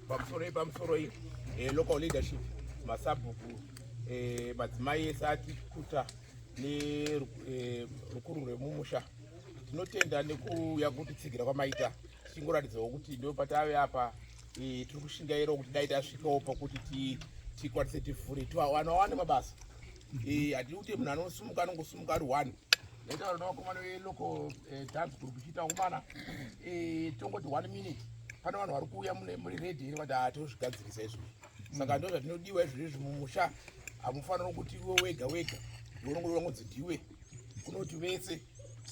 pamusoro iyi pamusoro iyi eh, local leadership masabhuku eh, madzimai ese ati kuta nerukuru eh, rwemumusha tinotenda nekuuya kutitsigira kwamaita tichingoratidzawo kuti ndo patave apa tiri kushingaira kuti dai tasvikawo pakuti tikwanise tivhure tiwana wane mabasa hatidi kuti munhu anosumuka anongosumuka ari one ndaitaura nevakomana velocal eh, dance group ichiita kumana eh, tongoti one minute pane vanhu vari kuuya muri redi iri vati hatozvigadzirisa ah, izvo saka ndo zvatinodiwa izvo izvi mumusha hamufanira kuti iwe wega wega ndiunongoongodzi ndiwe kunoti vese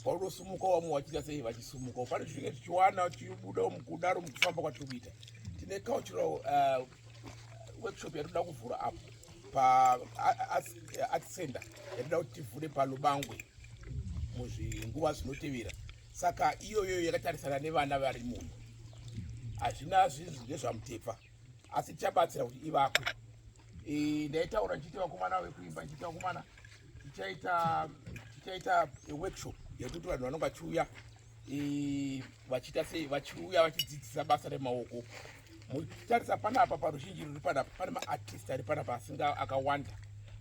vaunosimuka wamwe wachiita sei vachisumuka pane zvinenge tichiwana tichibuda mukudaro mukufamba kwatiri kuita tine cultural uh, workshop yatinoda kuvhura apo paart center yatinoda kuti tivhure palubangwe muzvinguva zvinotevera saka iyoyo yakatarisana nevana vari muno hazvina zvinhu ndezvamutepfa asi tichabatsira kuti ivakwe e, ndaitaura ndichiita vakomana vekuimba ndichiita vakomana tichaita tichaita workshop yekuti vanhu vanonga chiuya vachiita sei vachiuya vachidzidzisa basa remaoko muchitarisa panapa paruzhinji ruri panapa pane maartist ari panapa asinga akawanda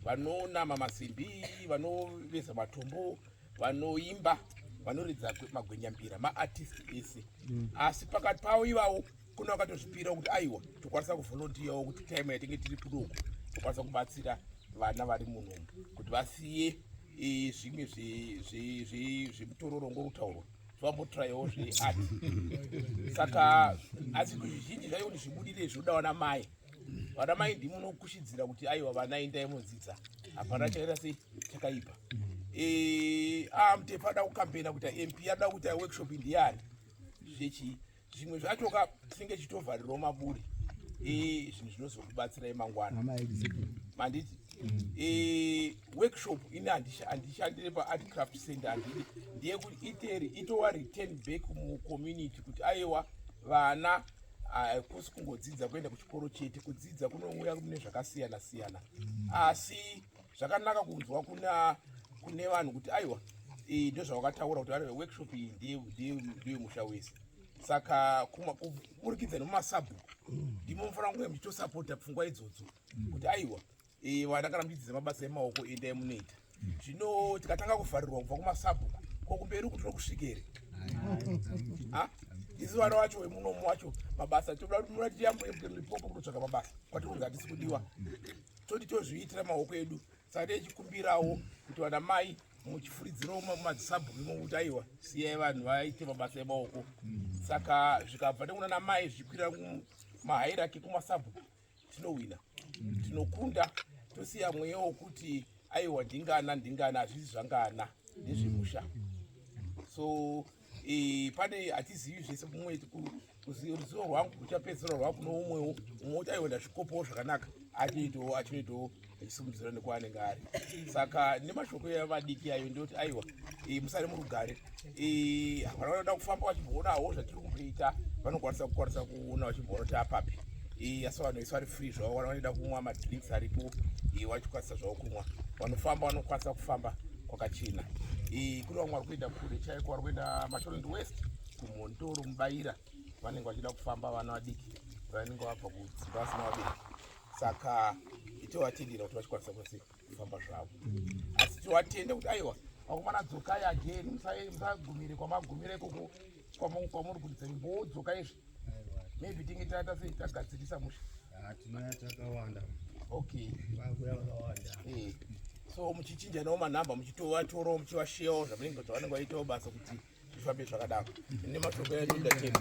vanonama masimbi vanoveza matombo vanoimba vanoridza magwenyambira maartist ese mm. asi pakati pavo ivawo kune vakatozvipira kuti aiwa tokwanisa kuvolontiyawo kuti time yatinge tiri kudoku tokwanisa kubatsira vana vari munhombo kuti vasiye e, zvimwe zvemutororo ngokutaurwa zvambotrayawo zveati saka asi zvizhinji zvaiwo ni zvibudire zvoda vana mai vana mai ndimunokushidzira kuti aiwa vana indai mudzidza hapana chaita sei chakaipa e, amutepa ah, ada kukampena kuti mp ada kuita workshop ndiyani zvechii zvimwe zvacho ka tinenge tichitovharirwa maburi e, zvinhu zvinozokubatsirai mangwana manditi mm. e, workshop ini handishandire paart craft center handidi ndeyekuti iteri itowa return back mucommunity kuti aiwa vana hakusi kungodzidza kuenda kuchikoro chete kudzidza kunouya mune zvakasiyana siyana mm. asi zvakanaka kunzwa kuna kune vanhu kuti aiwa eh, ndozvavakataura kuti vane workshop iyi ndiyo musha wese saka kuburikidza nemumasabhuku ndimo mufanira kunge muchitosapota pfungwa idzodzo kuti aiwa eh, vana kana muchidzidza mabasa emaoko endai munoita zvino tikatanga kuvharirwa kubva kumasabhuku kokumberi kuti tokusvikere isi vana wacho wemunomu wacho mabasa toda kuti munatiyambuye kutsvaka mabasa kwatikunzi hatisi kudiwa toti tozviitira maoko edu saka tichikumbirawo kuti vana mai muchifuridzirawo mumadzisabhuku mokuti aiwa siyai vanhu vaite mabasa emaoko saka zvikabva nekuna namai zvichikwira mahairaki kumasabhuku tinohwina tinokunda tosiya mweya wokuti aiwa ndingana ndingana hazvisi zvangana ndezvemusha so e, pane hatizivi zvese mumwe ruzivo rwangu ruchapedzisira rwava kuno umwewo umwe uchaionda zvikopowo zvakanaka achinoitawo achinoitawo achisimudzira nekwaanenge ari saka nemashoko evadiki ayo ndoti aiwa e, musari murugare e, havana vanoda kufamba vachimboonawo zvatiri kuita vanokwanisa kukwanisa kuona vachimboona kuti apapi asi vanhu vese vari free zvavo vanoda kumwa madrinks aripo vachikwanisa zvavo kumwa vanofamba vanokwanisa kufamba kwakachena eh, kune vamwe vari kuenda kure chaiko vari kuenda mashorend west kumhondoro mubaira vanenge vachida kufamba vana vadiki vanenge vabva kudzimba vasina vabereki saka itovatendera kuti vachikwanisa kwese kufamba zvavo asi tivatende kuti aiwa vakomana dzokai ageni musagumire kwamagumire ikoko kwamuri kuridza nyimbo dzoka izvi maybe tinge taata sei tagadzirisa musha ah, tinouya takawanda okay vakuya vakawanda eh. so muchichinjanawo manhamba muchitovatorowo muchivasheyawo zvamunenge zvavanenge vaitawo basa kuti zvifambe zvakadaro nemashoko yatindatena